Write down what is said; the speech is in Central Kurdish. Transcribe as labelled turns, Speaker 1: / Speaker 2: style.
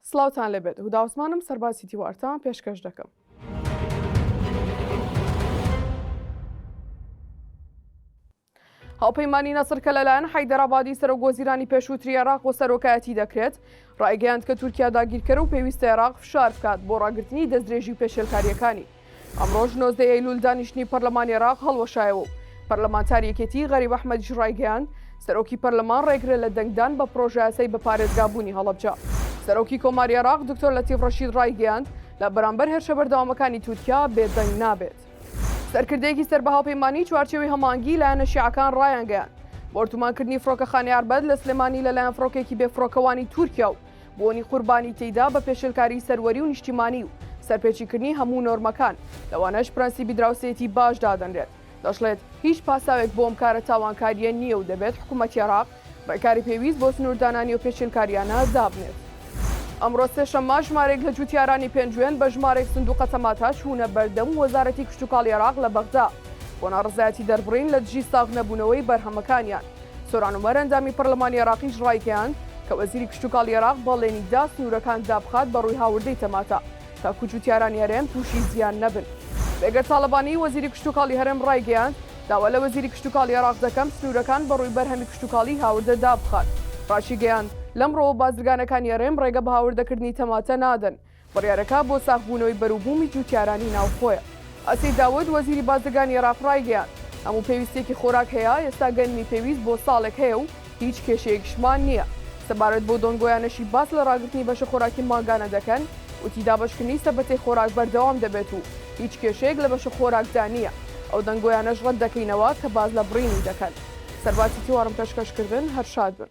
Speaker 1: سڵاوتان لێبێت هودا عوسمانم سەربازی تیوارتان پێشکەش دەکەم. هاوپەیمانی نەسر کە لەلایەن حیدەرابادی سەرۆک وەزیرانی پێشووتری عێراق و سەرۆکایەتی دەکرێت ڕایگەیاند کە تورکیا داگیرکەرە و پێویستە عێراق فشار بکات بۆ ڕاگررتنی دەستدرێژی پێشێلکاریەکانی. ئەمڕۆش نۆزدە ئەیلول دانیشتنی پەرلەمانی عێراق هەڵوەشایەوە و پەرلەمانتاری یەکێتی غەریب ئەحمەدیش ڕایگەیاند، سەرۆکی پەرلەمان ڕێگرە لە دەنگدان بە پڕۆژەیاسای بە پارێزگابوونی هەڵەبجە. سەرۆکی کۆماری عێراق دکتۆر لەتیف ڕەشید ڕایگەیاند، لە بەرامبەر هێرشە بەردەوامەکانی تورکیا بێدەنگ نابێت. سەرکردەیەکی سەر بە هاوپەیمانیی چوارچێوەی هەماهەنگیی لایەنە شیعەکان ڕایانگەیاند، بۆردومانکردنی فڕۆکەخانەی ئەربەد لە سلێمانی لەلایەن فڕۆکەیەکی بێفڕۆکەوانی تورکیا و بوونی قوربانی تێیدا بە پێشێلکاریی سەروەری و نیشتیمانی و سەرپێچیکردنی هەموو نۆرمەکان، لەوانەش پرەنسیبی دراوسێیەتی باش دادەنرێت، دەشڵێت، هیچ پاساوێک بۆ ئەم کارە تاوانکارییە نییە و دەبێت حکومەتی عێراق رێکاری پێویست بۆ سنووردانە نێوپێچێلکارییانە دابنێت. ئەمڕۆ سێشەممە ژمارێک لە جووتیارانی پێنجوێن بە ژمارێک سندووقە تەماتە چوونە بەردەم وەزارەتی کشتوکاڵی عێراق لە بەغدا بۆ ناڕەزایەتی دەربڕین لە دژی ساغنەبوونەوەی بەرهەمەکانیان. سۆران عومەر ئەندامی پەرلەمانی عێراقیش ڕایگەیاند کە وەزیری کشتوکاڵی عێراق بەڵێنی دا سنوورەکان دابخات بە ڕووی هاوردەی تەماتە تاکوو جووتیارانی هەرێم تووشی زیان نەبن. بێگەرد تاڵەبانی وەزیری کشتوکاڵی هەرێم ڕایگەیاند، داوا لە وەزیری کشتوکاڵی عێراق دەکەم سنوورەکان بە ڕووی بەرهەمی کشتوکاڵی هاوردە دابخات. ڕاشیگەیاند، لەمڕۆوە بازرگانەکانی هەرێم ڕێگە بە هاوردەکردنی تەماتە نادەن. بڕیارەکە بۆ ساغبوونەوەی بەروبوومی جووتیارانی ناوخۆیە. ئەسید داود، وەزیری بازرگانی عێراق ڕایگەیاند، هەموو پێویستییەکی خۆراک هەیە، ئێستا گەنمی پێویست بۆ ساڵێک هەیە و هیچ کێشەیەکشمان نییە. سەبارەت بەو دۆنگۆیانەشی باس لە ڕاگرتنی بەشە خۆراکی مانگانە دەکەن، وتی، دابەشکردنی سەبەتەی خۆراک بەردەوام دەبێت و هیچ کێشەیەک لە بەشە خۆراکدا نییە. ئەو دەنگۆیانەش ڕەت دەکەینەوە کە باس لە بڕینی دەکەن. سەرباتی تیوارم پێشکەشکردن، هەر شاد بن.